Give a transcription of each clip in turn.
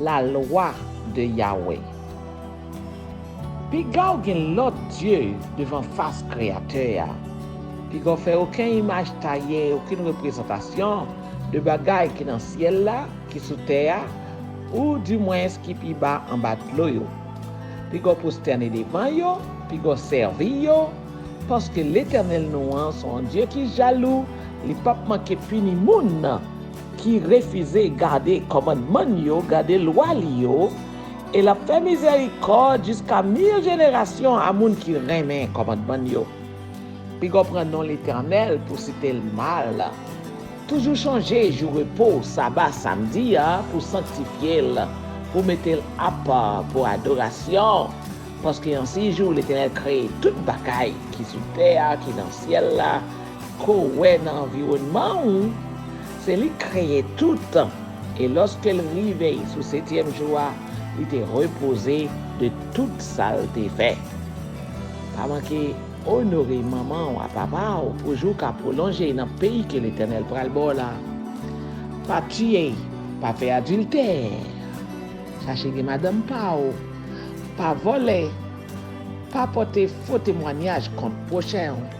La lwa de Yawe. Piga w gen lòt dye devan fas Kreyatè a, piga w fè oken imaj taye, okenn reprezantasyon de bagay ki nan syèl la, ki sou tè a, ou dimwens ki pi ba anba dlo yo. Piga w pwostène devan yo, piga w sèvi yo, paske Letènèl nou an se yon Dye ki jalou, li pap manke pini moun. ki refize gade kòmandman l yo, gade lwa li yo, e l ap fè mizèrikòd jiska mil jenerasyon a moun ki renmen kòmandman l yo. Piga w pran non Letènèl pou w site l mal. Toujou chonje jou repo w, saba, samdi a, pou w sanktifye l, pou w mete l apa pou adorasyon, paske an si jou Letènèl kreye tout bagay ki sou tè a, ki nan syèl la, Ke w wè nan anviwònman ou, se li k kreye tout, e lòske l rive sou setyèm jou a, li te repoze de tout sa l te fè. Pa manke onore manman w ak papa w pou jou ka pwolonje nan peyi ke Letènèl pral ba w la. Pa tiye, pa fè adiltè, chache gen madanm pa w, pa vòlè, pa pòte fo temwanyaj kont pwochen w.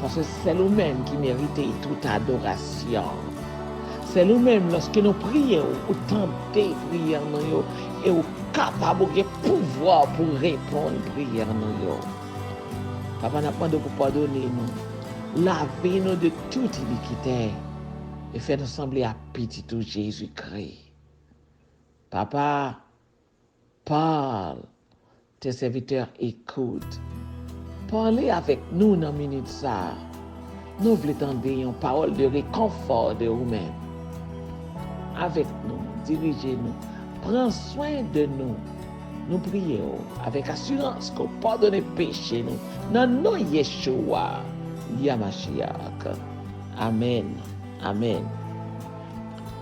Paske sèl ou menm ki merite tout adorasyon. Sèl ou menm lòske nou priye ou, ou tande priyè nou yo e ou kapab ou gen pouvwa pou reponn priyè nou yo. Papa nap mande w pou padone nou, lave nou de tout inikite e fè nou sanble ak pitit ou Jezi Kri. Papa. Parle, Tes serviteurs écoutent. Pale avèk nou nan minit sa a. Nou vle tande yon pawòl de rekonfò de ou menm. Avèk nou, dirije nou, pran swen de nou. Nou priye w avèk asirans ke w padone peche nou nan non Yeshua Yamashiach. Amen. Amen.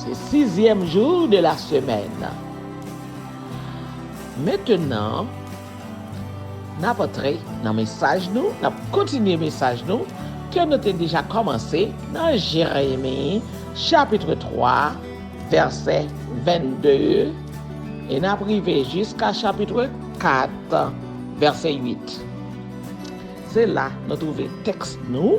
Se sizyèm jou de la semèn. Mentenan, n ap antre nan mesaj nou, n ap kontinye mesaj nou ke nou te deja kòmanse nan Jeremi chapitre 3 vèsè 22 e n ap rive jiska chapitre 4 vèsè 8. Se la nou twouve tèks nou.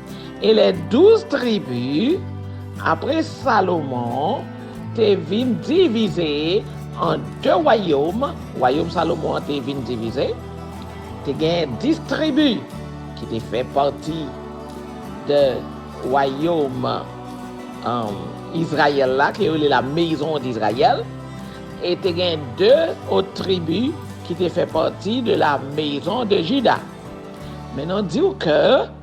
E lè douz tribi, apre Salomon, te vin divize an de wayòm, wayòm Salomon an te vin divize, te gen dis tribi ki te fè pati de wayòm Izrayèl la, ke yo rele la mezon dIzrayèl, e te gen de ot tribi ki te fè pati de la mezon de Jida. Men nou di ou ke.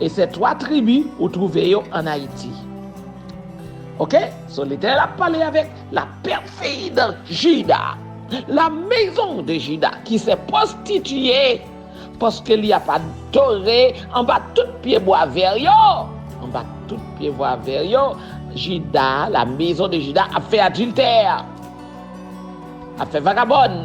E se 3 tribi ou trouve yo an Ayiti. Ok, so Letènèl ap pale avèk la pèfi de Jida, la mezon de Jida ki se pwostitiye paske li ap adore anba tout pye bwa vè yo, anba tout pye bwa vè yo, Jida, la mezon de Jida ap fè adiltè, ap fè vagabòn.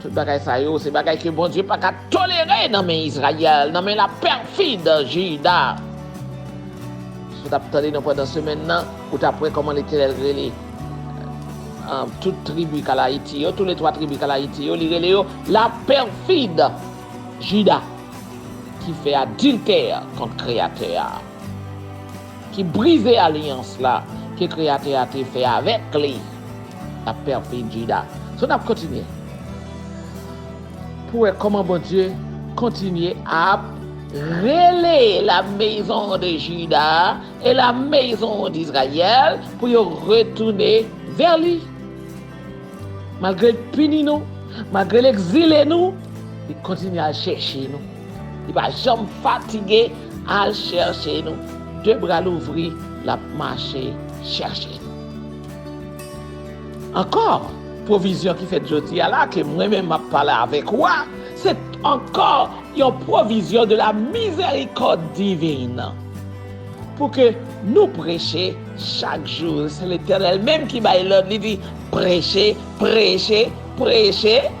Tout bagay sa yo, se bagay ke Bondye pa ka tolere nan men Izrayèl, nan men la pèfid Jida. Si w t ap tande nou pandan semèn nan, ou t ap wè kòman Letènèl rele tout tribi Kalayiti yo, toule twa tribi Kalayiti yo, li rele yo la pèfid Jida ki fè adiltè kont Kreyatè a. ki brize alyans la ke Kreyatè a te fè avèk li, l ap pèdi Jida. So, n ap kontinye pou wè kòman Bondye kontinye ap rele la mezon de Jida a e la mezon dIzrayèl pou yo retounen vè li. Malgre l pini nou, malgre l egzile nou, li kontinye al chèche nou. Li pa janm fatige al chèche nou. De bra l ouvri, l ap mache chèche nou. Ankò, pwovizyon ki fèt jodi a la, ke mwen menm m ap pale avèk ou a, se ankò yon pwovizyon de la mizèrikòd divin, pou ke nou preche chak jou. Se Letènèl menm ki bay lòd, li di, Preche, preche, preche.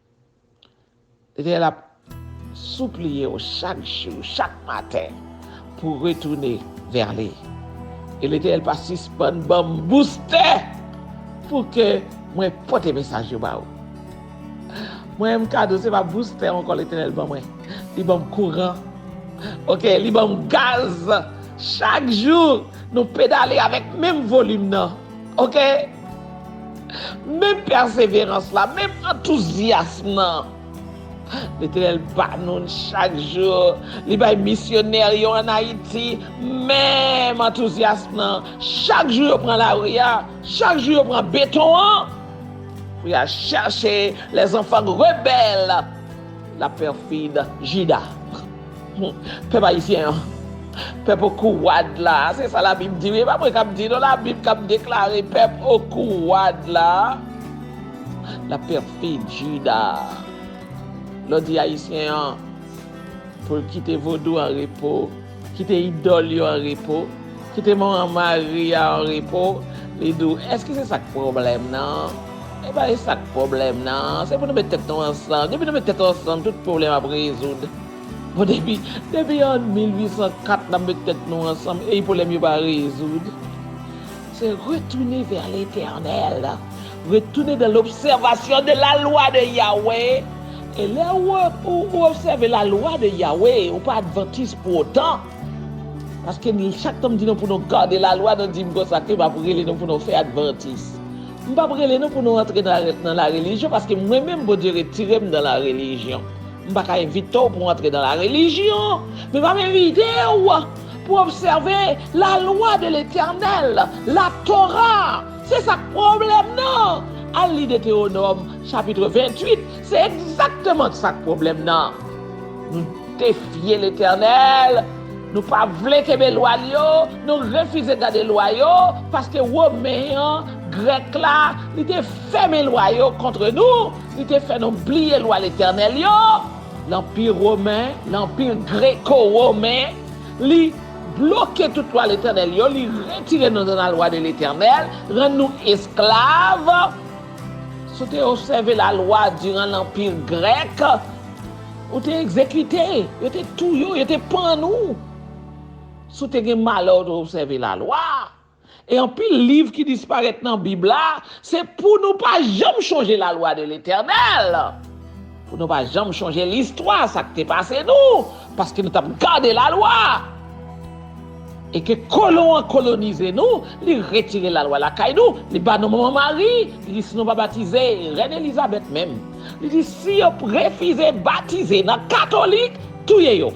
Lè l ap soupliye w chak jou, chak maten, pou w retounen vè li. E Letènèl pa sispann ban m boustè pou ke mwen pote mesaj yo ba ou. Mwen menm kado se pa boustè ankò Letènèl ban mwen, li ban m kouran, oke, li ban m gaz. Chak jou nou pedale avèk menm volim nan, oke. Menm pèseverans la, menm antouzyasm nan Letènèl ba nou l chak jou, li bay misyonè yo an Ayiti menm antouzyasm nan, chak jou yo pran lari a, chak jou yo pran beton an pou y al chèche lèzanfan rebèl, laperfid Jida. Pèp ayisyen an, pèp okouwad la, se sa labib di wi, e pa mwen kap di non labib kap deklare pèp okouwad la, la pèfid jida lò di ayisyen an pou l kite vodou an repo, kite idòl yo an repo, kite mò an mari a an repo, li di w èske se sak pwoblèm nan, e pa e sak pwoblèm nan, se pou nou met tèt nou ansanm, depi nou met tèt ansanm tout pwoblèm ap rezoud. Bon depi depi an 1804 nap met tèt nou ansanm ey pwoblèm yo pa rezoud se retounen vè letènèl retounen dan lobsèvasyon de la lwa de Yawe e lè ou obsève la lwa de Yawe ou pa advantis pou otan paske chak tan m di nou pou nou gade la lwa nou di m konsa ke m ap rele nou pou nou fè advantis m pap rele nou pou nou antre nan la relijyon paske mwen menm Bondye retire m dan la relijyon. M pa ka envite w pou w antre nan la relijyon, men m ap envite w pou w obsève lalwa de Letènèl, Latora. Se sa k pwoblèm nan! Al li Detewonòm chapitre 28, se egzakteman sa k pwoblèm nan. Nou defye Letènèl, nou pa vle kenbe lwa l yo, nou refize gade lwa yo, paske Women an, Grèk la, li te fèmen lwa yo kontre nou. Li te fè nou bliye lwa letènèl yo, lanpi women, lanpi greko-women, li bloke tout lwa letènèl yo, li retire nou nan lalwa de letènèl, rann nou esklav. Si w te obsève lalwa diran lanpi grèk, ou te egzekite, yo te touye w, yo te pann ou. Si w te gen malè w te obsève lalwa, E anpil liv ki disparèt nan Bib la, se pou nou pa janm chonje lalwa de Letènèl, pou nou pa janm chonje listwa sa k te pase nou, paske nou t ap gade lalwa. E ke kolon an kolonize nou, li retire lalwa lakay nou, li ba nou manman Mari, li di si nou pa batize, Rèn Elizabèt menm, li di si yo refize batize nan katolik, touye yo.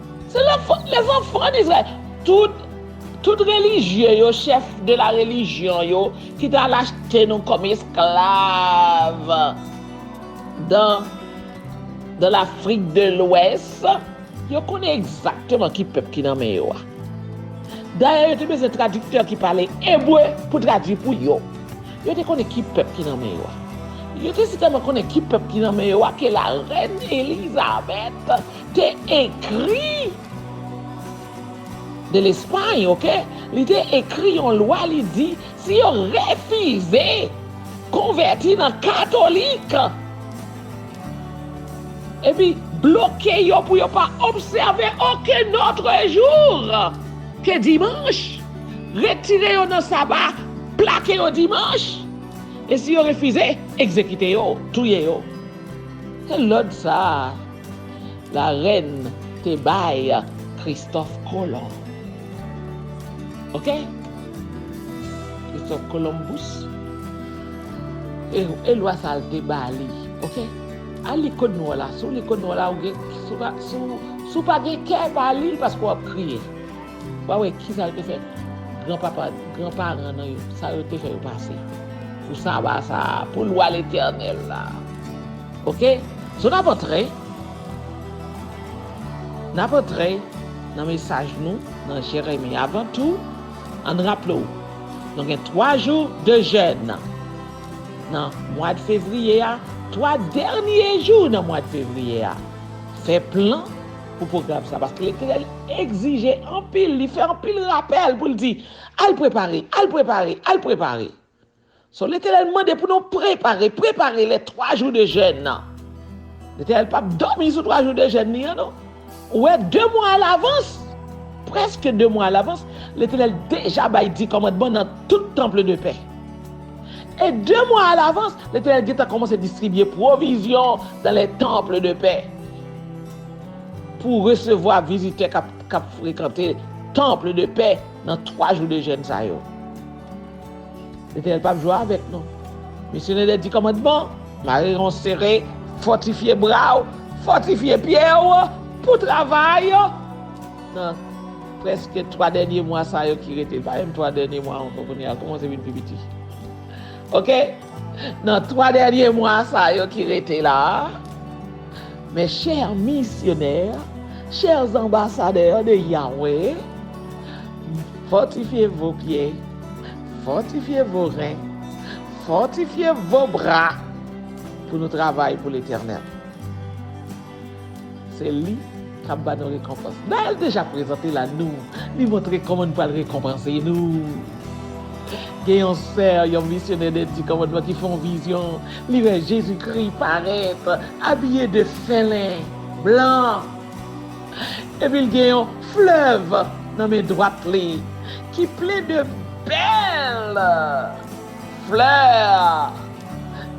Se la fot les enfants d'Israël. Tout Tout relijye yo chef de la religion yo ki ta al achte nou kom esklav dan dan lafrik de lwès yo konnen egzakteman ki pèp ki nan men yo a. Dayè yo te bezwen tradiktè ki pale ebre pou tradwi pou yo. Yo te konnen ki pèp ki nan men yo a. Yo te si tèlman konnen ki pèp ki nan men yo a ke la rèn Elizabèt te ekri de Lespay ok li te ekri yon lwa li di si yo refize konvèti nan katolik epi bloke yo pou yo pa obsève oken otre jour ke dimanch retire yo nan saba plake yo dimanch e si yo refize egzekite yo touye yo se lòd sa. Larèn te bay Kristòf Kolon. Ok? Kristòf Kolonbous. E lwa sa l te ba li. Ok? Al li Kòd Nwa la. Si w li Kòd Nwa la, si w pa gen kè, pa li l paske w ap kriye. W a wè kisa l te fè granpapa, granparan nou yo, sa yo te fè yo pase pou saba sa a, pou lwa letènèl la. Ok so nap antre nap antre nan mesaj nou nan jere men avan tou ann raple w nou gen 3 jou de jèn nan mwad fevriye a 3 dènye jou nan mwad fevriye a fè plan pou pwogram sa paske letènèl egzije anpil li fè anpil rapèl pou l di al prepare al prepare al prepare So Letènèl mande pou nou prepare, prepare lè 3 jou de jèn nan. Letènèl pap dòmi sou 3 jou de jèn li an non. Ou wè 2 mwa a lavans, prèske 2 mwa a lavans, Letènèl deja bay 10 kòmandman nan tout Temple de Paix. E 2 mwa a lavans, Letènèl gentan kòmanse distribye pwovizyon dan le Temple de Paix pou resevwa vizitè kap frekante Temple de Paix nan 3 jou de jèn sa yo. Letenel pap jwe avek nou. Mesye Nènè di kòmandman, mare ron sere, fòtifye bra w, fòtifye pye w pou travay nan prèske 3 dènye mwa sa yo ki rete. Li pa menm 3 dènye mwa ankò kounye a, l kòmanse vin pi piti. Ok, nan 3 dènye mwa sa yo ki rete la, mè chè misyonè, chè anbasadè de Yahweh, Fòtifye vo pye, fòtifye vo ren, fòtifye vo bra pou nou travay pou Letènèl. Se li k ap ba nou rekonpans. Nayèl deja prezante l a nou, li montre kòman nou pral rekonpanse nou. Gen yon sè, yon misyonè de Di Kòmandman ki fè yon vizyon, li wè Jezikri parèt abiye de fèlen blan. Epi l gen yon flèv nan men dwat li ki plen de bèl flè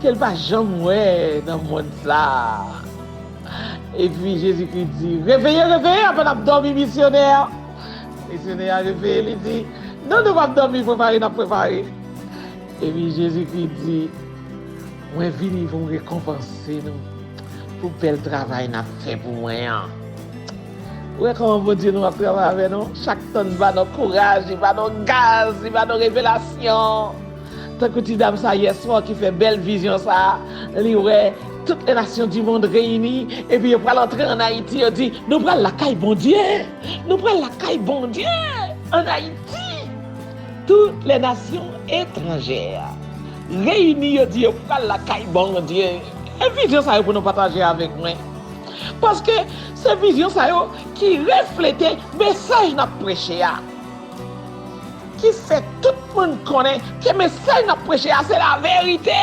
ke l pa janm wè nan mond sa a. Epi Jezikri di, Reveye, reveye avan n ap dòmi, misyonè! Misyonè a reveye, li di, Non, nou p ap dòmi, prepare n ap prepare. Epi Jezikri di, Mwen vini pou m rekonpanse nou pou bèl travay nap fè pou mwen an. Ou wè kòman Bondye nou ap travay avè nou, chak tan li ba nou kouraj, li ba nou gaz, li ba nou revelasyon. Tankou ti dam sa yèswa ki fè bèl vizyon sa, li wè tout lè nasyon di mond reyini epi yo pral antre an Ayiti yo di nou pral lakay Bondye, nou pral lakay Bondye an Ayiti. Tout lè nasyon etranjè. Reyini yo di yo pral lakay Bondye. E vizyon sa yo pou nou pataje avèk mwen? Paske se vizyon sa yo ki reflete mesaj n ap preche a, ki fè tout moun konnen ke mesaj n ap preche a se laverite,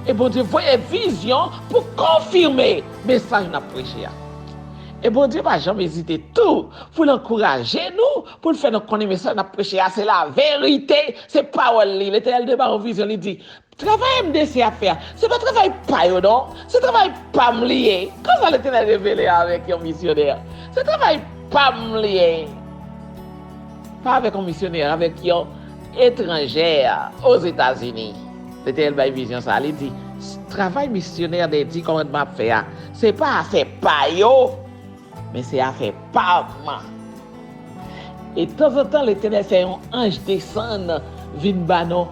e Bondye voye vizyon pou konfime mesaj n ap preche a. E Bondye pa janm ezite tou pou l ankouraje nou Pou l fè nou konnen mesaj n ap preche a se laverite, se pawòl li. Letènèl te ban yon vizyon, li di, Travay MDC ap fè a, se pa travay pa yo non, se travay pa m li ye. Konsa Letènèl revele avèk yon misyonè, Se travay pa m li ye. Pa avèk yon misyonè, avèk yon etranjè Ozetazini. Letènèl bay vizyon sa a, li di, Travay misyonè de Di Kòmandman ap fè a, se pa afè pa yo, Men se afè pam! E tanzantan Letènèl fè yon anj desann vin ba nou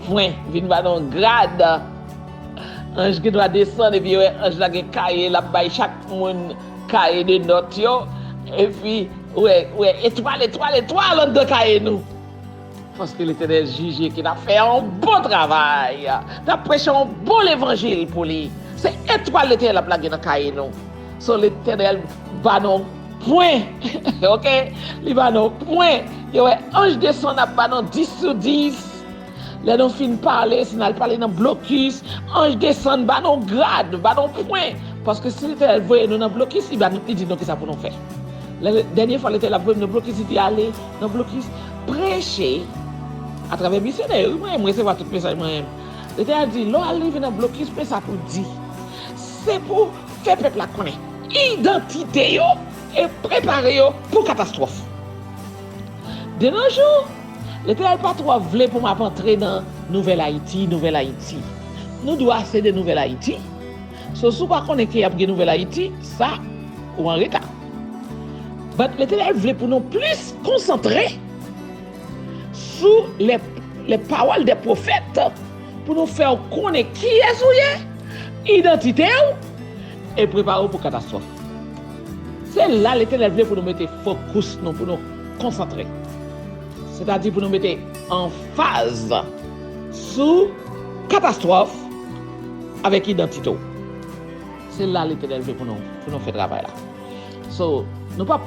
pwen, vin ba nou grad. Anj gen dwa desann epi yo wè anj la gen kaye l ap bay chak moun kaye de nòt yo epi ou wè etwal etwal etwal anndan kaye nou. Paske Letènèl jije ke n'ap fè yon bon travay, n'ap preche yon bon levanjil pou li. Se etwal Letènèl l'ap lage nan kaye nou. So Letènèl ba nou pwen, ok, li ba nou pwen. Yo wè anj desann ap ba nou 10 sou 10. Lè nou fin pale, si n'al pale nan blokis, anj desann ba nou grad, ba nou pwen. Paske si Letènèl voye nou nan blokis, li ba nou, li di nou kisa pou nou fè. Dènye fwa Letènèl ap voye m nan blokis, li di ale. Nan blokis Preche atravè misyonè yo wi mwen resevwa tout mesaj mwen renmn. Yo te al di lè w al rive nan blokis men sa pou w di. Se pou w fè pèp la konnen idantite yo e prepare yo pou katastwòf. De nos jours Letènèl pa twò vle pou m ap antre nan nouvèl Ayiti, nouvèl Ayiti. Nou dwa se de nouvèl Ayiti. So si w pa konnen ke y ap gen nouvèl Ayiti sa ou anreta. But Letènèl vle pou nou plis konsantre sou les paroles des prophètes pou nou fè ou konnen kiyès ou ye, idantite ou e prepare ou pou katastwòf. Se la Letènèl vle pou nou mete fokous nou, pou nou konsantre. Sètadi pou nou mete anfaz sou katastwòf avèk idantite ou. Se la Letènèl vle pou nou pou nou fè travay la. So, nou pap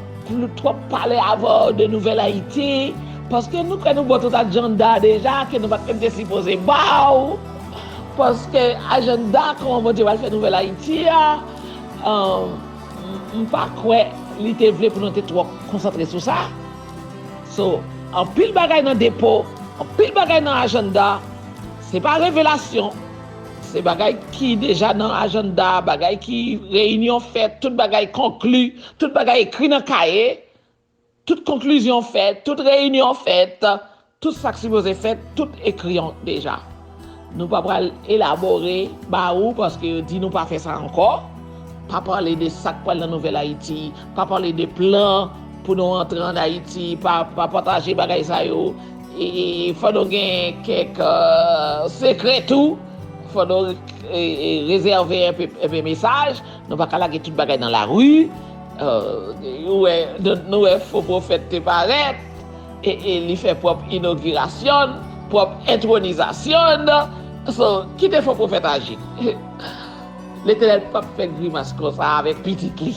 twòp pale avè w de nouvèl Ayiti paske nou kwè nou ba w tout ajanda deja ke nou pat menm te sipoze ba w paske ajanda kòman Bondye pral fè nouvèl Ayiti a m pa kwè li te vle pou nou te twòp konsantre sou sa. So, anpil bagay nan depo, anpil bagay nan ajanda se pa revelasyon. Se bagay ki deja nan ajanda, bagay ki reyinyon fèt, tout bagay konkli, tout bagay ekri nan kaye, tout konklizyon fèt, tout reyinyon fèt, tout sa k sipoze fèt, tout ekri deja. Nou pa pral elabore ba ou paske yo di nou pa fè sa ankò, pa pale de sa k pral nan Nouvèl Ayiti, pa pale de plan pou nou antre ann Ayiti, pa pataje bagay sa yo. Fò nou gen kèk sekrè tou, fò nou rezève enpe mesaj, nou pa ka lage tout bagay nan lari, nou wè fo pwofèt te parèt, e li fè pwòp inogirasyon n, pwòp entwonizasyon n, so kite fo pwofèt aji, Letènèl p ap fè grimas konsa avèk pitit li,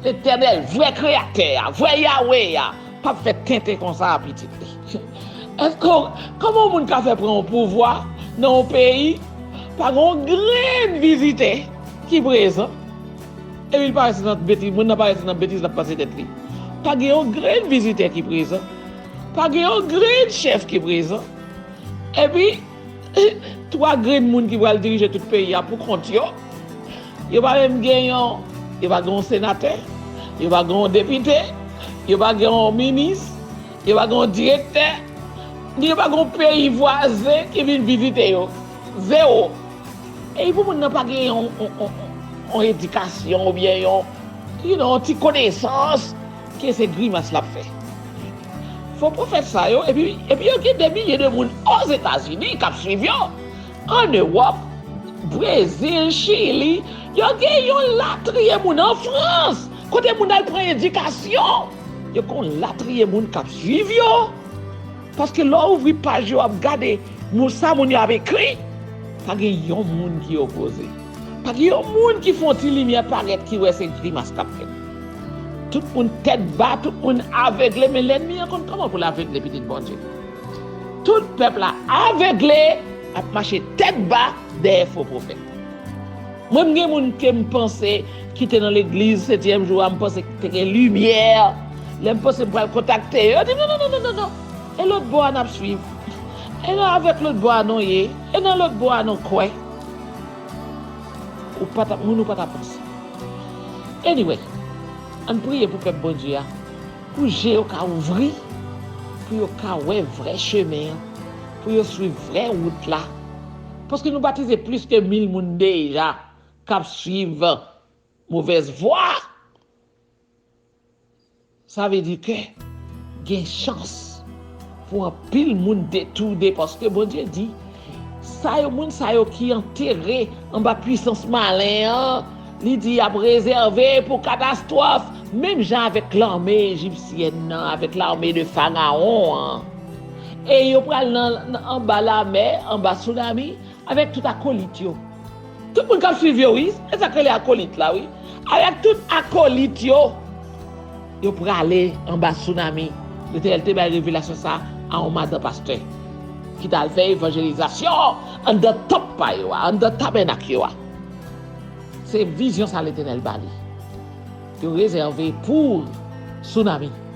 Letènèl vrè kreyatè a, vrè Yawe a, Pap fè tenten konsa a pitit li. Eske kòman yon moun ka fè pran yon pouvwa nan yon peyi pa gen yon grenn vizitè ki prezan epi li pa rete nan betiz moun nan pa rete nan betiz lap pase tèt li pa gen yon grenn vizitè ki prezan pa gen yon grenn chèf ki prezan epi 3 grenn moun ki pral dirije tout peyi a pou kont yo, yo pa menm gen yon, yo pa gen yon senatè, yo pa gen yon depite, yo pa gen yon minis, yo pa gen yon direktè, ni yo pa gen yon peyi vwazen ki vin vizite yo, zewo. Epi pou moun nan pa gen yon edikasyon oubyen yon, you know, yon ti konesans. Ke se grimas lap fè. Fo pwofèt sa yo epi epi yo gen de milye de moun ozetazini kap swiv yo an ewòp brezil chili yo gen yon latriye moun an frans kote moun al pran edikasyon yo gen yon latriye moun kap swiv yo paske lè w ouvri paj yo ap gade moun sa moun yo ap ekri pa gen yon moun ki opoze. Pa gen yon moun ki fon ti limyè parèt ki wè se grimas kap fèt. Tout moun tèt ba, tout moun avegle men lènmi an konn kòman poul avegle pitit Bondye. Tout pèp la avegle ap mache tèt ba dèyè fo pwofèt. Mwen m gen moun kem panse kite nan legliz setyèm jou a m panse te gen limyè lèm panse m pral kontakte yo yo dim non non non non e lòt bò a nap swiv e nan avèk lòt bò a non ye e nan lòt bò a non kwè. Ou pa ta moun ou pa ta panse. Anyway, ann priye pou pèp Bondye a, pou je yo ka ouvri, pou yo ka wè vrè chemen an, pou yo swiv vrè wout la, paske nou batize plis ke mil moun deja k ap swiv movèz vwa. Sa vle di ke gen chans pou anpil moun detourne paske Bondye di sa yo moun sa yo ki antere anba pwisans malen an li di yap rezève pou katastwòf menm jan avèk lame ejipsyèn nan avèk lame de farawon an e yo pral nan anba lamè anba sounami avèk tout akolit yo. Tout moun kap swiv yo wi. E sak rele akolit la wi. Al ak tout akolit yo. Yo prale anba tsunami. Letènèl te bay revelasyon sa a yon madan pastè. Ki tal fè evanjelizasyon anndan tanp pa yo a. Anndan tabènak yo a. Se vizyon sa letènèl bali. Yo rezève pou tsunami.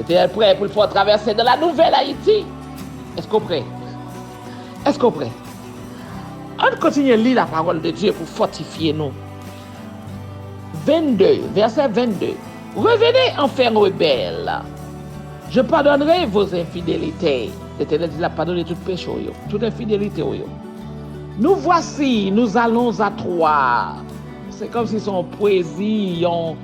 Ete el prè pou l fè yon travèse nan la nouvèl Ayiti? Èske w prè? Èske w prè? Ann kontinye li lapawòl de Dye pou fòtifye nou. 22, vèsè 22, Revene anfen rebèl, je padònre vo enfidelite, Letènèl di l ap padone tout peche w yo, tout enfidelite w yo. Nou vwasi, nou alon a twa, se kòmsi se yon pwezi, yon.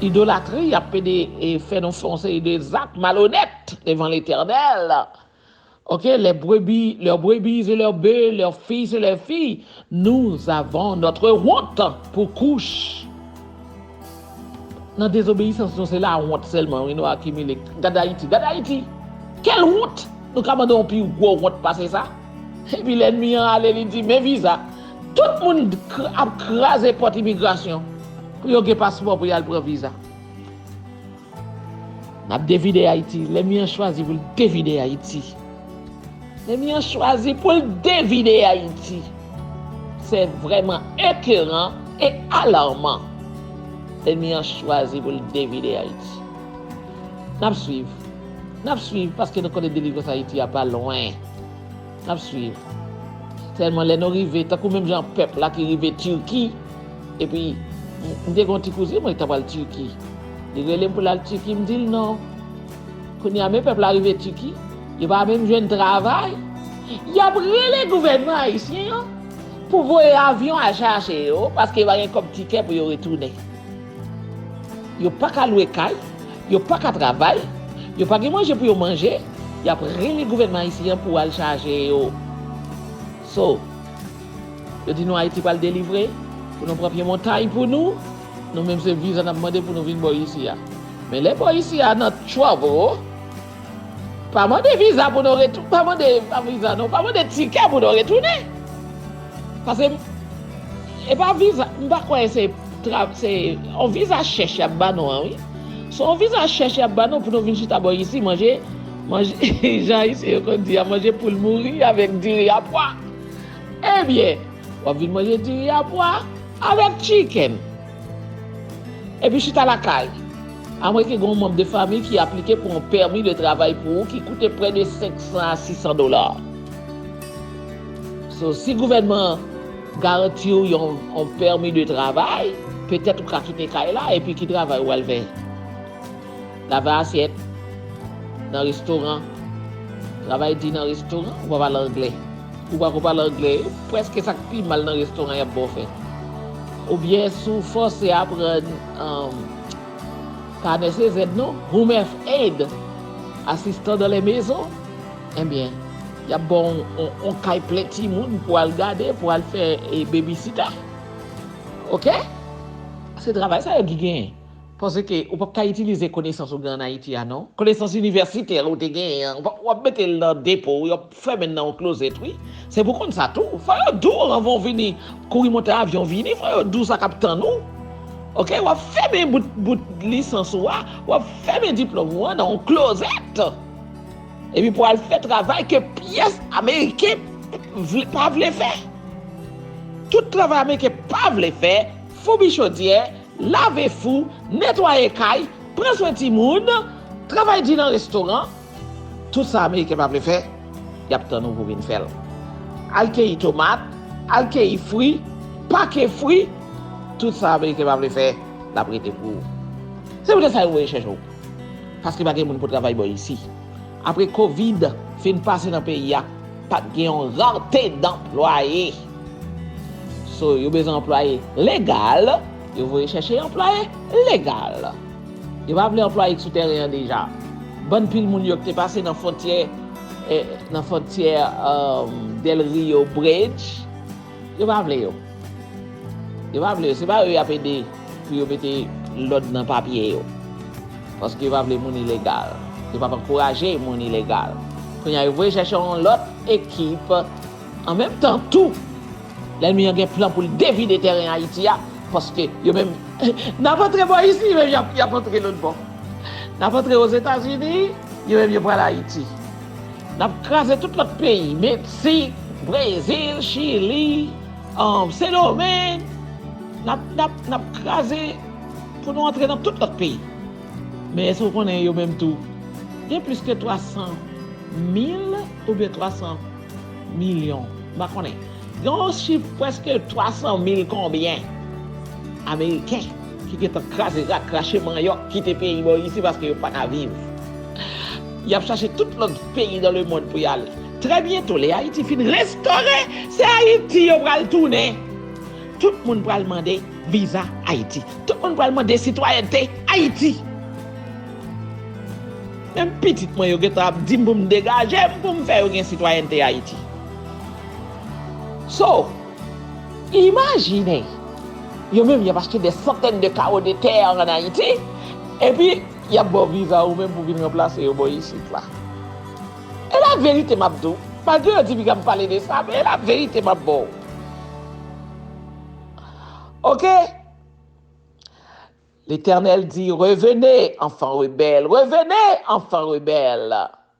Idolatri, y ap pede fè nou fè yon seri de zak malonèt devan Letènèl. Ok, les brebis, leurs brebis et leurs bœufs, leurs fils et leurs filles, nous avons notre honte pour Cush. Nan dezobeyisans nou, se lawont sèlman wi nou akimile. Gad Ayiti, gad Ayiti! Quelle honte! Nou ka mande yon pi gwo wont pase sa? Epi lènmi an ale li di men viza, tout moun ap kraze pòt imigrasyon pou yo gen paspò pou yal pran viza. Nap devide Ayiti, lènmi an chwazi poul devide Ayiti. Lènmi an chwazi poul devide Ayiti. Se vrèman ekeran e alarman. Lènmi an chwazi poul devide Ayiti. Nap swiv, nap swiv paske nou konnen delivrans Ayiti a pa lwen. Nap swiv. Sèlman lè nou rive tankou menm jan pèp la ki rive Turki epi m te gen yon ti kouzin mwen ki ta pral Turki li rele m pou l al Turki m di l non kounye a menm pèp la rive Turki yo pa menm jwenn travay y ap rele gouvènman ayisyen an pou voye avyon al chache yo paske yo pa gen kòb tikè pou yo retounen. Yo pa ka lwe kay, yo pa ka travay, yo pa gen manje pou yo manje, y ap rele gouvènman ayisyen an pou al chaje yo. So, yo di nou Ayiti pral delivre, pou nou pran pye montay pou nou, nou menm se viza n ap mande pou nou vin bò isi a. Men lè bò isi a nan trouble, pa mande viza pou nou retounen, pa mande, pa viza non, pa mande tikè pou nou retounen. Pase, e pa viza, m pa kwè se. Trap se yon viza chèch yap ba nou an wi se yon viza chèch yap ba nou pou nou vin chita bò isi manje manje jan ayisyen yo konn di a manje poul mouri avèk diri a pwa ebyen wap vin manje diri a pwa avèk tchikenn epi chita lakay amwè ke gen yon manb de famiy ki aplike pou yon pèmi de travay pou ou ki koute prè de 500 a 600 dola so si gouvènman an. Garanti w yon pèmi de travay, petèt ou ka kite kay la epi ki travay ou pral fè? Lave asyèt nan restoran, travay di nan restoran, ou pa pale anglè. Ou pa ko pale anglè, prèske sa k pi mal nan restoran y ap ba w fè. Oubyen si w fòse aprann, pa nèse zèd non, home èf aid, asistan dan lè mezon, enbyen. Yap baw on kay plen timoun pou al gade pou al fè baby sita ok se travay sa yo ki genyen paske ou pap ka itilize konesans ou gen an ayiti a non konesans inivèsitè ou te genyen an wap metel nan depo wi wap fèmenl nan on klozèt wi se pou konn sa tou fò yo diw anvan ou vini kouri monte avyon vini fò yo diw sa kap tann ou ok wap fèmen bout lisans ou a wap fèmen diplòm ou an nan on klozèt. Epi pou al fè travay ke pyès Ameriken pa vle fè. Tout travay Ameriken pa vle fè, foubi chodyè, lave fou, netwaye kay, pran swen timoun, travay di nan restoran, tout sa Ameriken pa vle fè, y ap tann ou pou vin fè l. Al keyi tomat, al keyi fri, pake fri, tout sa Ameriken pa vle fè, l ap rete pou ou. Se poutèt sa yo voye chèche w. Paske pa gen moun pou travay bò isi. Apre covid fin pase nan peyi a, pat gen yon rarte danplwaye. So yo bezwen anplwaye legal, yo voye chèche anplwaye legal. Yo pa vle anplwaye ki sou tèren an deja. Bann pil moun yo ki te pase nan fontyè nan fontyè Del Rio Bridge. Yo pa vle yo. Yo pa vle yo. Se pa yo yap ede pou yo mete lòd nan papye yo. Paske yo pa vle moun ilegal. Yo pap ankouraje moun ilegal. Kounye a yo voye chèche yon lòt ekip. An menm tan tou, lènmi an gen plan pou l devide tèren Ayiti a. Paske yo menm, n ap antre bò isi, yo menm y ap antre lòtbò. N ap antre Ozetazini, yo menm yo pral Ayiti. Nap kraze tout lòt peyi meksik brezil chili sendomeng nap kraze pou nou antre nan tout lòt peyi men èske ou konnen yo menm tou gen plis ke 300 mil oubyen 300 milyon m pa konnen gen yon chif prèske 300 mil konbyen ameriken ki gentan kraze rak krache manyòk kite peyi bò isi paske yo paka viv. Y ap chache tout lòt peyi dan lemond pou y ale. Trè byento, lè Ayiti fin restore, se Ayiti yo pral tounen. Tout moun pral mande viza Ayiti. Tout moun pral mande sitwayènte Ayiti. Menm pitit mwen yo gen tan ap di m pou m degaje m pou m fè yo gen sitwayènte Ayiti. So, imajine, yo menm y ap achte dè santèn de karo de tè ann Ayiti, epi. Yap baw viza ou menm pou vin ranplase yo bò isit la. E la verite map diw. Malgre yo di piga m pale de sa men e la verite map baw. Ok. Letènèl di revene anfan rebèl revene anfan rebèl.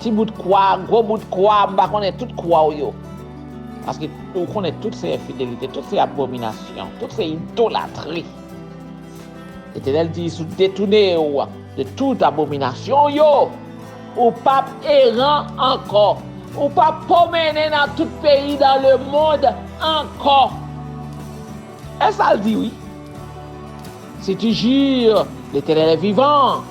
Ti bout kwa, gwo bout kwa, m pa konnen tout kwa w yo. Paske ou konnen tout se enfidelite, tout se abominasyon, tout se idolatri. Letènèl di, si w detoune w de tout abominasyon w yo, ou p ap eran ankò, ou p ap pwomennen nan tout peyi dan lemond ankò. E sa l di wi. Si tu jures, Letènèl e vivan.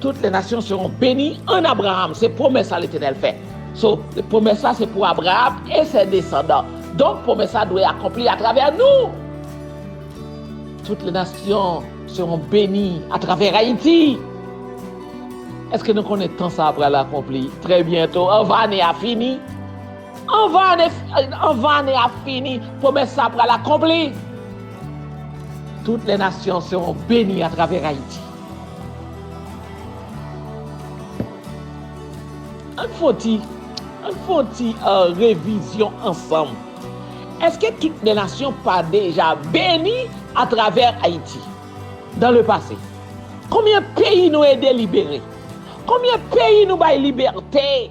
Tout le nasyon seron beni an Abraham. Se pwomès sa Letenèl fè. So, pwomès sa se pou Abraham e se desandan. Donk, pwomès sa dwe akonpli atravè nou. Tout le nasyon seron beni atravè Ayiti. Eske nou konnen tan sa pral akonpli trè byento, anvan ane a fini? Anvan ane a fini, pwomès sa pral akonpli. Tout le nasyon seron beni atravè Ayiti. Ann fon ti, ann fon ti revizyon ansanm. Eske tout de nasyon pa deja beni a travè Ayiti? Dan le pase, konbyen peyi nou ede libere? Konbyen peyi nou bay libète?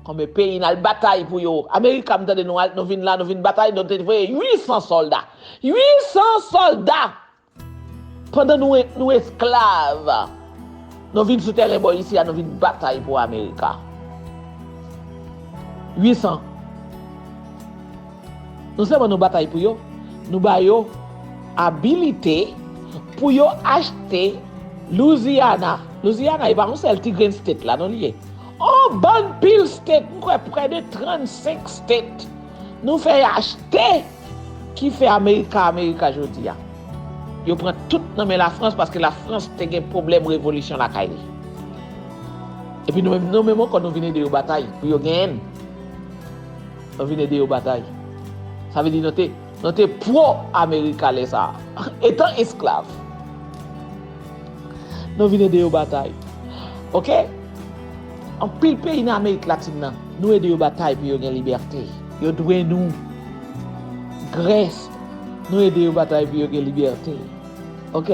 Konbyen peyi n al batay pou yo? Amerika m tande nou al, nou vin la, nou vin batay, nou te voye 800 sòlda. 800 sòlda! Pandan nou esklav, nou vin sou tèren bò isi a, nou vin batay pou Amerika. 800. Non sèlman nou batay pou yo, nou ba yo abilite pou yo achte Louisiana. Louisiana e pa yon sèl ti grenn state la non li ye. Yon bann pil state, m kwè prè de 35 state. Nou fè achte ki fè America America jodia. Yo pran tout nan men la France paske la France te gen pwoblèm revolution lakay li. Epi nou menm nou menm ankò nou vin ede yo batay pou yo genyen n. Nou vin ede yo batay. Sa vle di nou te nou te pro America lè sa a. Etan esklav. Nou vin ede yo batay. Ok? Anpil peyi nan Amerik Latin nan, nou ede yo batay pou yo gen libète. Yo dwe nou. Grès, nou ede yo batay pou yo gen libète. Ok.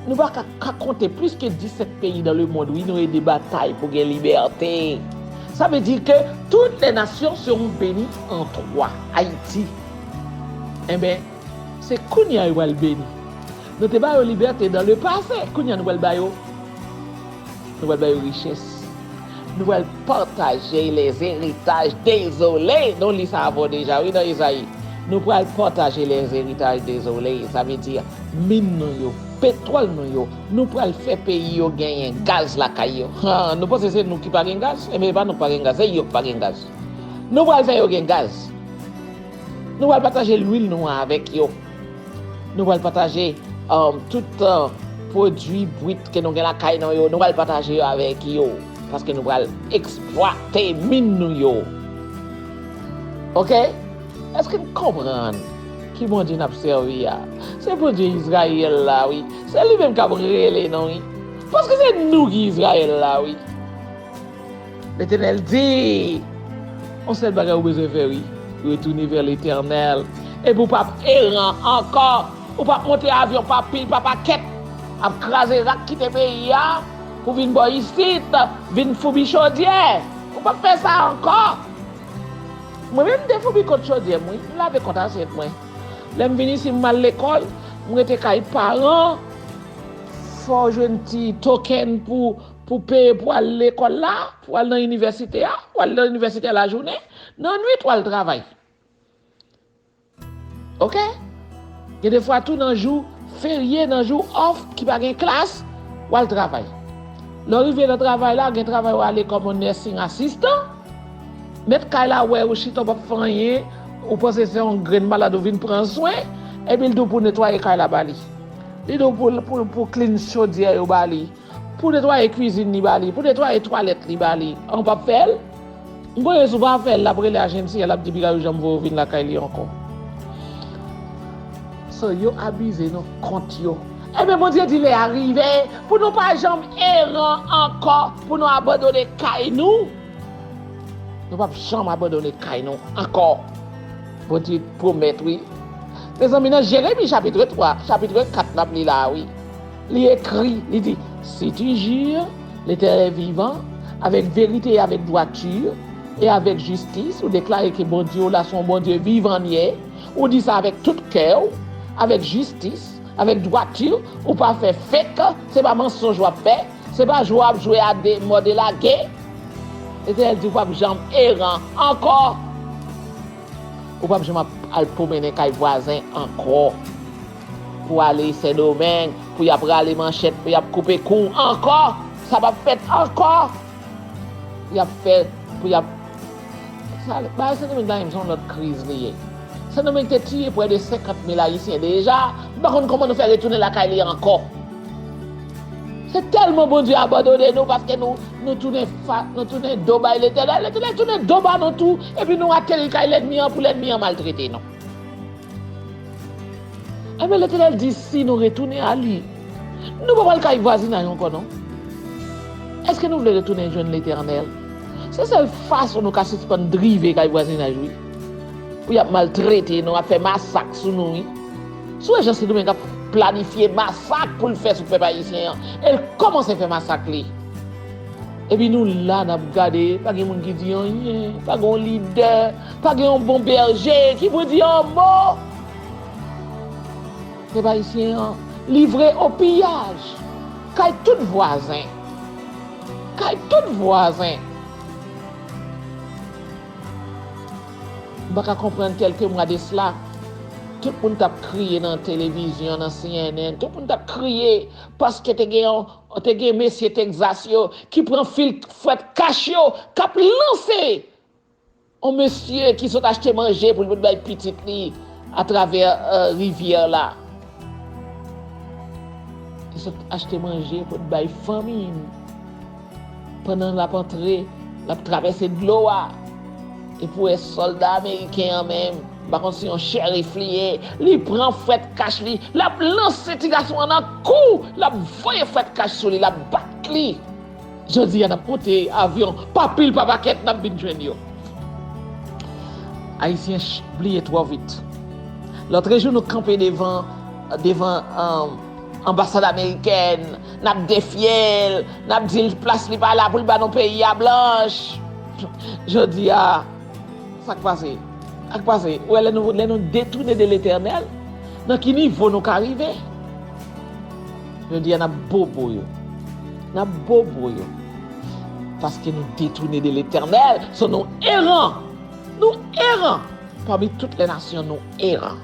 Nou pa ka, ka konte plis ke 17 peyi nan lemond wi nou ede batay pou gen libète. Sa vle di ke tout lè nasyon se yon beni an 3. Ayiti. Enben, se kounye a yo pral beni. Nou te ba yo libète dan le pase, kounye a nou pral ba yo. Nou pral bay yo richès. Nou pral patajey les heritaj dezole. Nou li sa avè w deja wi nan Ezayi. Nou pral pataje les heritaj dezole. Sa vle di, min nou yo, petwòl nou yo. Nou pral fè peyi yo genyen gaz lakay yo. Ha, nou panse se nou ki pa gen gaz? Enben, e pa nou ki pa gen gaz, se yo ki pa gen gaz. Nou pral fè yo gen gaz. Nou pral pataje lwil nou an avèk yo. Nou pral pataje tout pwodui bwit ke nou gen lakay nou yo, nou pral pataje yo avèk yo, paske nou pral eksplwate min nou yo. Ok? Eske n konprann ki Bondye n ap sèvi a? Se Bondye Izrayèl la wi. Se li menm k ap rele nou wi. Paske se nou ki Izrayèl la wi. Letenel di, On sel bagay ou bezwen fè wi, retounen vè Letenel, epi ou pap eran ankò, ou pap monte avyon pa pil pa pakèt, ap kraze rak kite peyi a, pou vin bò isit, vin foubi chodyè, ou pap fè sa ankò. Mwen menm m te foubi kont chodyè m wi, m lave kont asyèt mwen. Lè m vin isi m al lekòl, m rete kay paran, fò w jwenn ti token pou. Pou peye pou al lekòl la, pou al nan inivèsite a, ou al nan inivèsite a lajounen, nan nwit ou al travay. Ok? Gen de fwa tou nan jou ferye, nan jou òf ki pa gen klas, ou al travay. Lè ou rive nan travay la, gen travay ou ale kòm yon nursing assistant, mèt kay la wè ou chita ou pap fè anyen, ou panse se yon grenn malad ou vin pran swen, epi l di w pou netwaye kay la ba li. Li di w pou clean chodyè yo ba li. Pou netwaye kwizin li ba li, pou netwaye twalèt li ba li, an ou pap fè l? M konnen si w pa fè l, l ap rele Ajensi a, l ap di piga yo janm voye w vin lakay li ankò. So yo abize nou kont yo. Enben Bondye di lè a rive pou nou pa janm eran ankò, pou nou abandone kay nou. Nou pap janm abandone kay nou ankò. Bondye pwomèt wi. Mezanmi nan Jeremi chapitre 3, chapitre 4 n ap li la a wi. Li ekri, li di, Si tu jure L'Etènèl vivan, avèk verite e avèk dwati, e avèk jistis, ou deklare ke Bondye w la se yon Bondye vivan l ye, ou di sa avèk tout kè w, avèk jistis, avèk dwati, ou pa fè fek, se pa mansonj w ap fè, se pa jwe w ap jwe a de mò de lage, Letènèl di w pap janm eran ankò, ou pap janm ap al pwomennen kay vwazen ankò. Pou ale sendomeng pou yap rale manchet pou yap koupe kou ankò sa pap fèt ankò yap fè pou yap bagay sendomeng la menm son lòt kriz li ye sendomeng te tiye prè de 50 mil ayisyen deja m pa konn kòman nou fè retounen lakay li ankò se tèlman bondye abandone nou paske nou tounen fat nou tounen do bay letènèl letènèl tounen do ba nou tou epi nou ateri kay lènmi an pou lènmi an maltrete nou. Enben, Letènèl di, Si nou retounen a Li, nou pa pral kay vwazinay ankò non. Èske nou vle retounen jwenn Letènèl? Se sèl fason nou ka sispann drive kay vwazinaj wi. Pou y ap maltrete nou, ap fè masak sou nou wi. Si w wè jan Sendomeng ap planifye masak pou l fè sou pèp ayisyen an, e l kòmanse fè masak li. Epi nou la n ap gade, pa gen moun ki di anyen, pa gen yon lidè. Pa gen yon bon bèje ki pou di yon mo. Pèp ayisyen an livre o piyaj kay tout vwazen. Kay tout vwazen. M pa ka konprann kèlke mwa de sla, tout moun t ap kriye nan televizyon, nan cnn, tout moun t ap kriye paske te gen yon, te gen mesye Texas yo ki pran fil fwèt kach yo k ap lanse. On mesye ki sot achte manje pou li pot bay pitit li atravè rivyè la. Li sot achte manje pou li bay fanmi li. Pandan l ap antre, l ap travèse dlo a. E pou wè sòlda ameriken an menm, m pa konn si yon sheriff li ye, li pran fwèt kach li, l ap lanse ti gason an nan kou, l ap voye fwèt kach sou li, l ap bat li. Jodi a nap monte avyon pa pil pa pakèt nap vin jwenn yo. Ayisyen bliye twò vit. Lotrejou nou kanpe devan devan anbasad amerikèn nap defye l, nap di l plas li pa la pou l ba nou peyi a blanch. Jodi a sak pase? Sak pase? Ou wè lè nou detoune de letènèl nan ki nivo nou ka rive? Jodi a n ap bobo yo. N ap bobo yo. Paske nou detoune de Letènèl. So nou eran. Nou eran. Pami tout lè nasyon nou eran.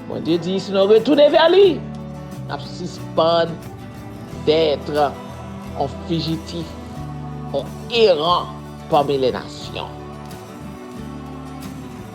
Bondye di si nou retoune vè li, n ap sispann dètre on fijitif, on eran pami lè nasyon.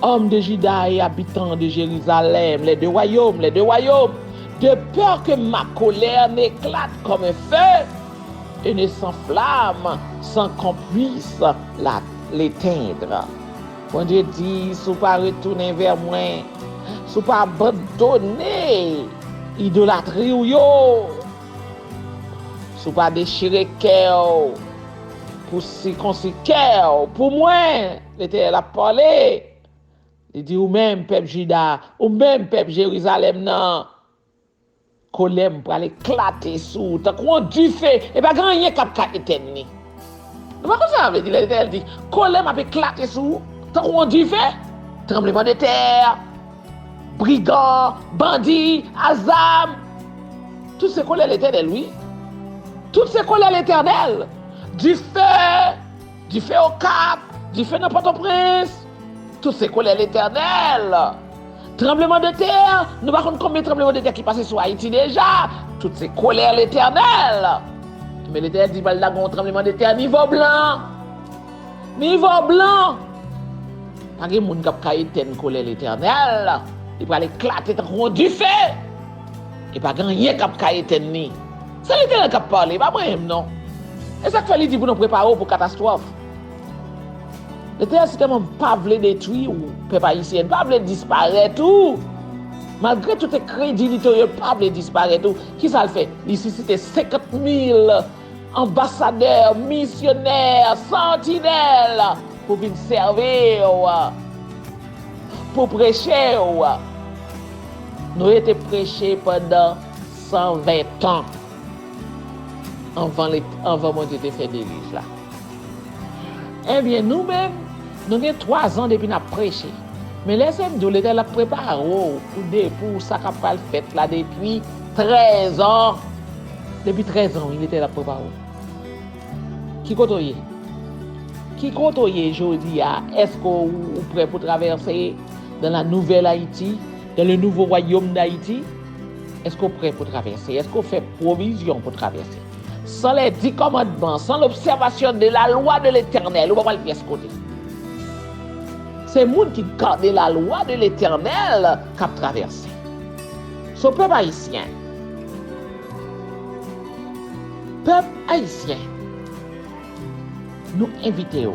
Òm de Jida e abitan de Jerizalèm, lè de wayòm, lè de wayòm, de pè ke ma kolè n'eklat kòm un fè, e ne san flam san k'on puis la letendre. Bondye di, si w pa retounen vè mwen, si w pa abandone idolatri w yo, si w pa dechire kè w pou sikonsi kè w pou mwen, Letènèl ap pale, li di, Ou menm, pèp Jida, ou menm, pèp Jerizalèm nan, kolè m pral eklate sou ou tankou yon dife, e pa gen anyen k ap ka etèn li. Nou pa konn sa sa vle di lè Letènèl di, Kolè m ap eklate sou ou tankou yon dife? Tranblemandetè, brigan, bandi, azam, tout se kolè Letènèl wi. Tout se kolè Letènèl, dife. Dife Okap, dife nan Pòtoprens, tout se kolè Letènèl. Tranbleman de tè, nou pa konn konbyen tranbleman de tè ki pase sou Ayiti deja, tout se kolè Letènèl. Men Letènèl di pral lage yon tranbleman de tè nivo blan. Nivo blan! Pa gen moun k ap ka etèn kolè Letènèl, li pral eklate tankou yon dife e pa gen anyen k ap ka etèn li. Se literel kap pale, pa mwen menm non. Esak fè li di pou nou prepare w pou katastwòf. Literel si tèlman pa vle detwi w pèp ayisyen pa vle disparèt ou malgre tout enkredilite w yo pa vle disparèt ou kisa l fè li sisite 50 mil anbasadè, misyonè, santinèl pou vin sèvi w pou preche w. Noye te preche pandan. San ven tan anvan anvan Bondye te fè delij la. Ebyen nou menm nou gen twazan depi n ap preche. Men lèse m di w Letènèl ap prepare w pou de pou sa k ap pral fèt la depi trèzan depi trèzan wi Letènèl ap prepare w. Ki kote w ye? Ki kote w ye jodi a? Èske ou prè pou travèse dan la nouvèl Ayiti? Dan le nouvo wayom dAyiti? Èske w prè pou travèse? Èske w fè pwovizyon pou travèse? San lè di kòmandman, san lobsèvasyon de lalwa de Letènèl, ou pa pral pyès kote. Se moun ki gade lalwa de Letènèl k ap travèse. So pèp ayisyen, pèp ayisyen, nou envite w.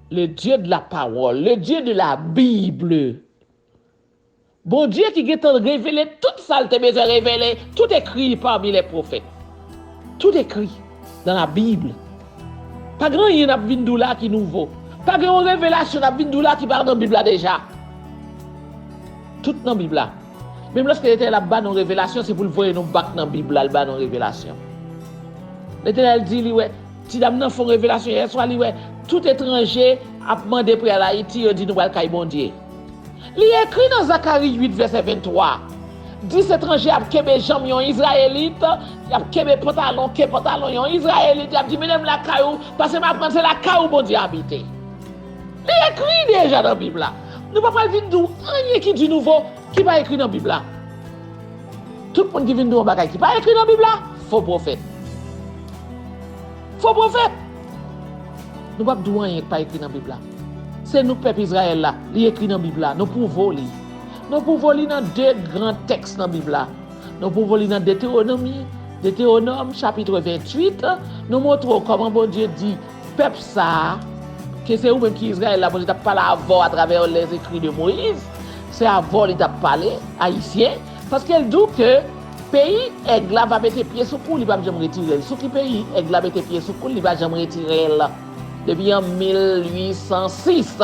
Le Dieu de la parole, le Dieu de la Bible. Bondye ki gentan revele tout sa l te bezwen revele, tout ekri pami lè pwofèt. Tout ekri nan la Bible. Pa gen anyen n ap vin di w la ki nouvo. Pa gen yon revelasyon n ap vin di w la ki pa nan Bib la deja. Tout nan Bib la. Menm lèske Letènèl ap ba nou revelasyon se poul voye nou bak nan bib la al ba nou revelasyon. Letènèl di li wè ti dam nan fon revelasyon yèswa li wè tout etranje ap mande pou yal Ayiti yo di nou pral kay Bondye. Li ekri nan Zakari 8 vèsè 23 10 etranje ap kenbe janm yon Izrayelit yap kenbe pantalon ke pantalon yon Izrayelit yap di mennen m lakay ou paske m aprann se lakay ou Bondye abite. Li ekri deja nan Bib la. Nou pa pral vin di w anyen ki di nouvo ki pa ekri nan Bib la. Tout moun ki vin di w yon bagay ki pa ekri nan Bib la, fo pwofèt. Fo pwofèt! Nou pap di w anyen ki pa ekri nan Bib la. Se nou pèp Izrayèl la, li ekri nan Bib la. Nou pwouve w li. Nou pwouve w li nan de gran tèks nan Bib la. Nou pwouve w li nan Detewonomi, Detewonom, chapitre 28, nou montre w kòman Bondye di, Pèp sa a, ke se ou menm ki Izrayèl la, Bondye t ap pale avè w atravè lèzekri de Moyiz, se avè w li t ap pale, Ayisyen, paske l di w ke peyi èg la va mete pye sou kou l, li pap janm retire l. Sou ki peyi èg la mete pye sou kou l, li pa janm retire l? Depi an 1806,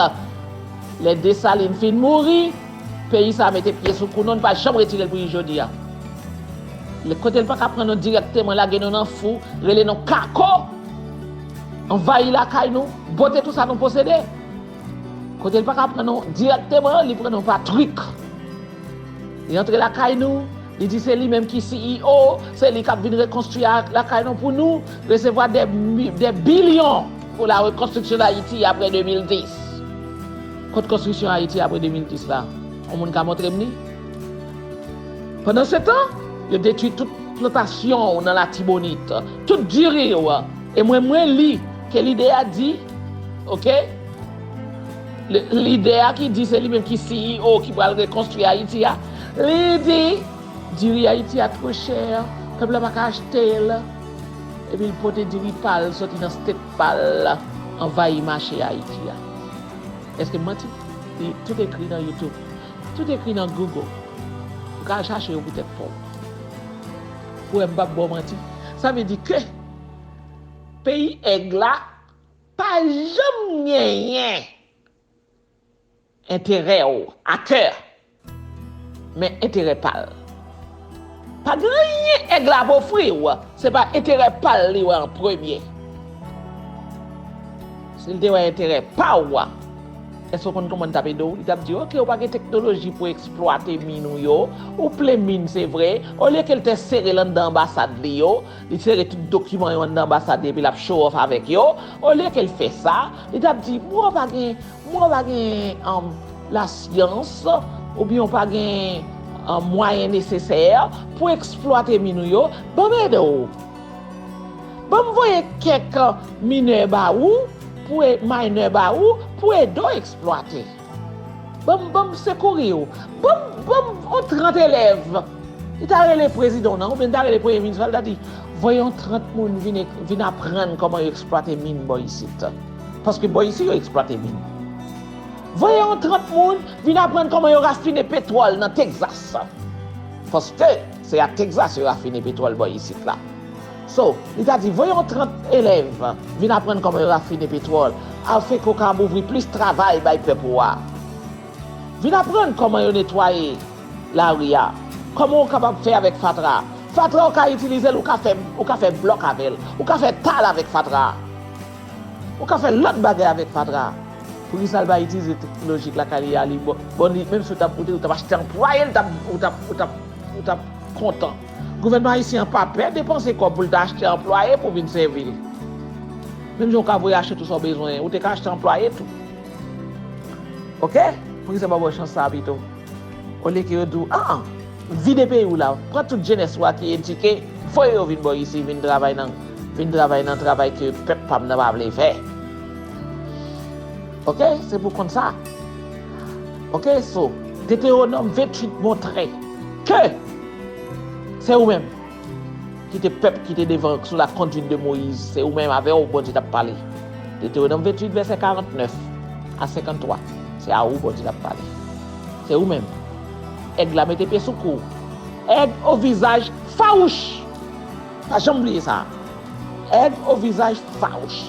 lè Desalin fin mouri, peyi sa a mete pye sou kou nou, li pa janm retire l pou jis jodi a. Kote l pa ka pran nou dirèkteman, lage nou nan fou, rele nou kako! Anvayi lakay nou, bote tou sa nou posede. Kote li pa ka pran nou dirèkteman, li pran nou pa trik. Li antre lakay nou, li di se li menm ki CEO, se li k ap vin rekonstwi lakay nou pou nou, resevwa dè bilyon pou la rekonstriksyon Dayiti apre 2010. Kot konstriksyon Ayiti apre 2010 la? On moun ka montre m li? Pandansetan, yo detwi tout plantasyon w nan Latibonit. Tout diri yo a e mwen mwen li ke lidè a di ok lidè a ki di se li menm ki CEO ki pral rekonstwi Ayiti a li di diri Ayiti a two chè pèp la pa ka achte l epi l pote diri pa l soti nan state pa l anvayi mache Ayiti a eske m manti tout ekri nan YouTube tout ekri nan Google ou ka al chache yo pou tèt pa w. Ou wè m pap baw manti. Sa vle di ke peyi èg la pa janm genyen enterè w a kè. Men enterè pa l. Pa gen anyen èg la ap ofri w, se pa enterè pa l li wè an premye. Si l te wè enterè pa w. Èske w konn kòman li t ap ede w? Li t ap di, ok, ou pa gen teknoloji pou eksplwate min ou yo, ou plen min se vre, olye ke l te sere l anndan anbasad li yo, li sere tout dokiman yo anndan anbasad li epi l ap show off avèk yo, olye ke l fè sa, li t ap di, mwen w pa gen, mwen w pa gen lasyans oubyen w pa gen mwayen nesesè pou eksplwate min ou yo, ban m ede w. Banm voye kèk mineur ba ou pou e minor ba ou pou ede w eksplwate. Banm banm sekouri w. Banm banm on 30 elèv. Li ta rele prezidan w nan oubyen li ta rele premye minis la li ta di voye yon 30 moun vin vin aprann kòman yo eksplwate min bò isit. Paske bò isi yo eksplwate min. Voye yon 30 moun vin aprann kòman yo rafine petwòl nan Texas. Paske. Se ak Texas yo rafine petwòl bò isit la. So, li ta di, voye yon 30 elèv vin aprann kòman yo rafine petwòl, afin ke w kab ouvri plis travay bay pèp ou a. Vin aprann kòman yo netwaye lari a, kòman ou kapab fè avèk fatra a. Fatra ou ka itilize l, ou ka fè, ou ka fè blòk avè l, ou ka fè tal avèk fatra a. Ou ka fè lòt bagay avèk fatra a. Poukisa l pa itilize teknoloji k lakay li a li bon li menm si w tap ou tap achte anplwaye l tap ou tap ou tap ou tap kontan gouvènman ayisyen an pa pè depanse kòb pou l ta achte anplwaye pou vin sèvi l menm jan w ka voye achte tout sa w bezwen ou te ka achte anplwaye tou ok poukisa yo pa ba w chans sa a pito olye ke yo di w an vide peyi w la pran tout jenès wa ki edike voye yo vin bò isi vin travay nan vin travay nan travay ke pèp pa m nan pa vle fè. Ok, se pou konn sa. Ok, so, Detewonom 28 montre ke se ou menm ki te pèp ki te devan sou la konduit de Moyiz, se ou menm avè ou Bondye t ap pale. Detewonom 28 vèsè 49 a 53, se a ou Bondye t ap pale. Se ou menm. Èg la mete pye sou kou ou. Èg o vizaj fawouch! Pa janm bliye sa a. Èg o vizaj fawouch!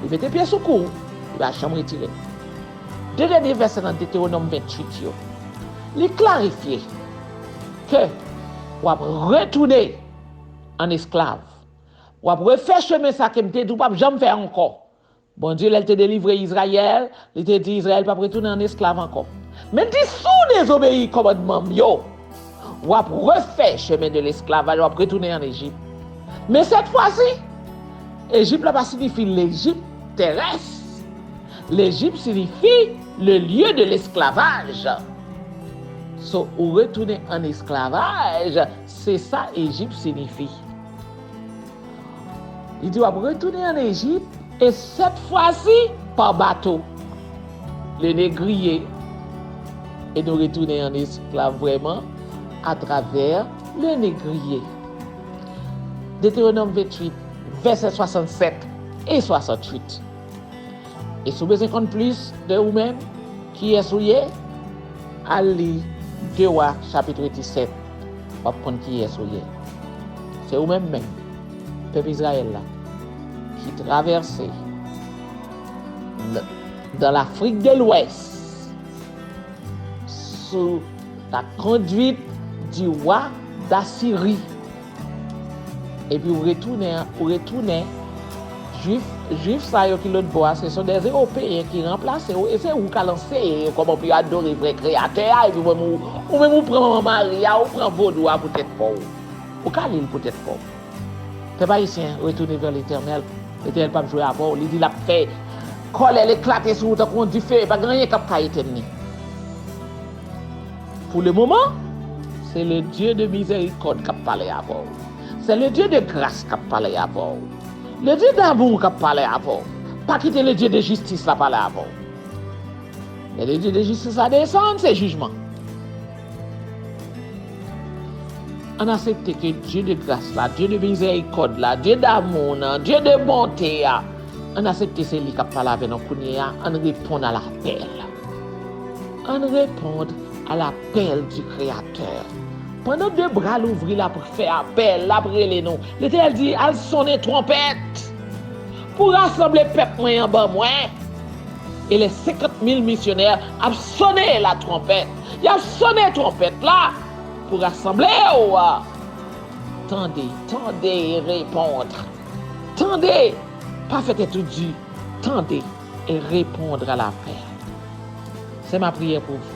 Li mete pye sou kou ou, li pa janm retire. De dènye vèsè nan Detewonòm 28 yo, li klarifye ke w ap retounen an esklav, w ap refè chemen sa ke m te di w p ap janm fè ankò. Bondye, lè l te delivre Izrayèl, Li te di Izrayèl pap retounen an esklav ankò. Men di si w dezobeyi kòmandman m yo, w ap refè chemen de lesklavaj, w ap retounen an Ejip. Men sètfwasi, Ejip la pa siyifi Lejip terès. Lejip siyifi le lye de lesklavaj. So ou retounen an esklavaj, se sa Ejip siyifi. Li di w ap retounen an Ejip e sèt fwasi pa bato. Le negriye e nou retounen an esklav vrèman atravè le negriye. Deteronòm 28, vèsè 67 e 68. E si w bezwen konn plis de ou menm, kiyès ou ye, al li 2 Wa chapitre 17. wap konn kiyès ou ye. Se ou menm menm, pèp Izrayèl la, ki travèse dan Lafrik de Lwès sou la konduit di wa Dasiri, epi ou retounen, ou retounen. Jwif, Jwif sa yo ki lòt bò a, se son dè Ewopeyen ki ranplase ou, e se ou k'al anseye yo kòman pou yo adore vrè Kreyatè a, epi ou menm ou pran Mari a, ou pran Vodou a pou tèt pa ou. Ou ka li l pou tèt pa ou. Pèp Ayisyen, retournez vers l'Etènèl, Letènèl p'ap jwe avè ou, li di l'ap fè kòlè l' eklate sou ou tankou yon dife, e pa gen anyen k'ap ka etèn li. Pou le moman, se le Dye de mizèrikòd k'ap pale avè ou. Se le Dye de gras k'ap pale avè ou. Le Dieu d'amour kap pale avèw pa kite le Dieu de justice la pale avèw lè le Dieu de justice la desann se jijman ann asepte ke Dieu de grâce la Dieu de miséricorde la Dieu d'amour nan Dieu de bonté a ann asepte se li kap pale avè nou kounyea ann reponn a lapèl ann reponn a lapèl du créateur. Pandan de bra l ouvri l ap fè apèl, l ap rele nou. Letènèl di, Al sonnen twonpèt pou rasanble pèp mwen an ban mwen. E lè senkant mil misyonè ap sonnen latwonpèt, y ap sonnen twonpèt la pou rasanble ou, tande, tande e repondr, tande, pa fè tèt ou di, tande e repondr a lapèl. Se ma priyè pou vou.